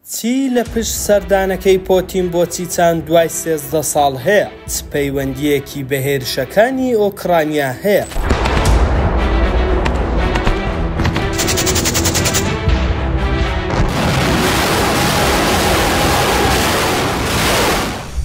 چی لە پشت سەردانەکەی پۆتین بۆ چیچان دوای سێزدە ساڵ هەیە؟ چ پەیوەندییەکی بە هێرشەکانی ئۆکرانیا هەیە؟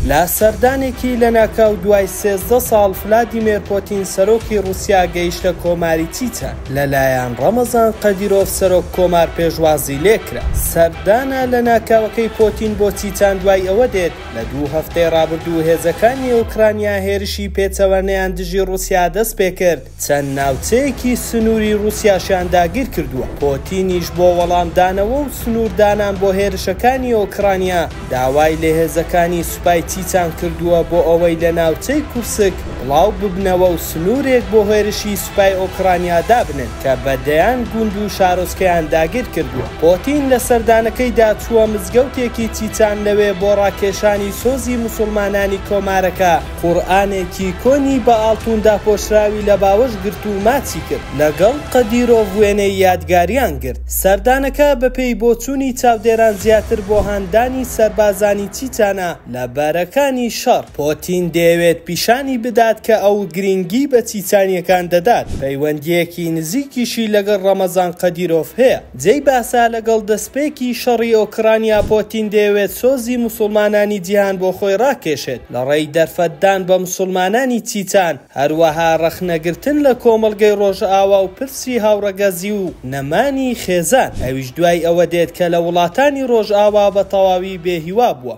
لە سەردانێکی لەناکاو دوای سێزدە ساڵ، فلادیمێر پۆتین سەرۆکی ڕووسیا گەیشتە کۆماری چیچان. لەلایەن ڕەمەزان قەدیرۆڤ سەرۆک کۆمار پێشوازی لێکرا. سەردانە لەناکاوەکەی پۆتین بۆ چیچان دوای ئەوە دێت، لە دوو هەفتەی ڕابردوو هێزەکانی ئۆکرانیا هێرشی پێچەوانەیان دژی ڕوسیا دەستپێکرد، چەند ناوچەیەکی سنوری ڕوسیاشیان داگیرکردووە، پۆتینیش بۆ وەڵامدانەوە و سنوردانان بۆ هێرشەکانی ئۆکرانیا داوای لە هێزەکانی سوپای چیچان کردووە بۆ ئەوەی لە ناوچەی کورسک بڵاوببنەوە و سنورێک بۆ هێرشی سوپای ئۆکڕانیا دابنێن کە بە دەیان گوند و شارۆچکەیان داگیر کردووە. پۆتین لە سەردانەکەیدا چووە مزگەوتێکی چیچان لەوێ بۆ ڕاکێشانی سۆزی موسوڵمانانی کۆمارەکە قورئانێکی کۆنی بە ئاڵتوون داپۆشراوی لە باوەش گرت و ماچی کرد لەگەڵ قەدیرۆڤ وێنەی یادگاریان گرت. سەردانەکە بەپێی بۆچوونی چاودێران زیاتر بۆ هاندانی سەربازانی چیچانە. لە بارەکانی شەڕ، پۆتین دەیەوێت پیشانی بدات کە ئەو گرینگی بە چیچانییەکان دەدات، پەیوەندییەکی نزیکیشی لەگەڵ ڕەمەزان قەدیرۆڤ هەیە. جێی باسە، لەگەڵ دەستپێکی شەڕی ئۆکرانیا، پۆتین دەیەوێت سۆزی موسوڵمانانی جیهان بۆ خۆی ڕاکێشێت لە ڕێی دەرفەتدان بە موسوڵمانانی چیچان، هەروەها ڕەخنەگرتن لە کۆمەڵگەی ڕۆژئاوا و پرسی هاوڕەگەزی و نەمانی خێزان، ئەویش دوای ئەوە دێت کە لە وڵاتانی ڕۆژئاوا بە تەواوی بێهیوا بووە.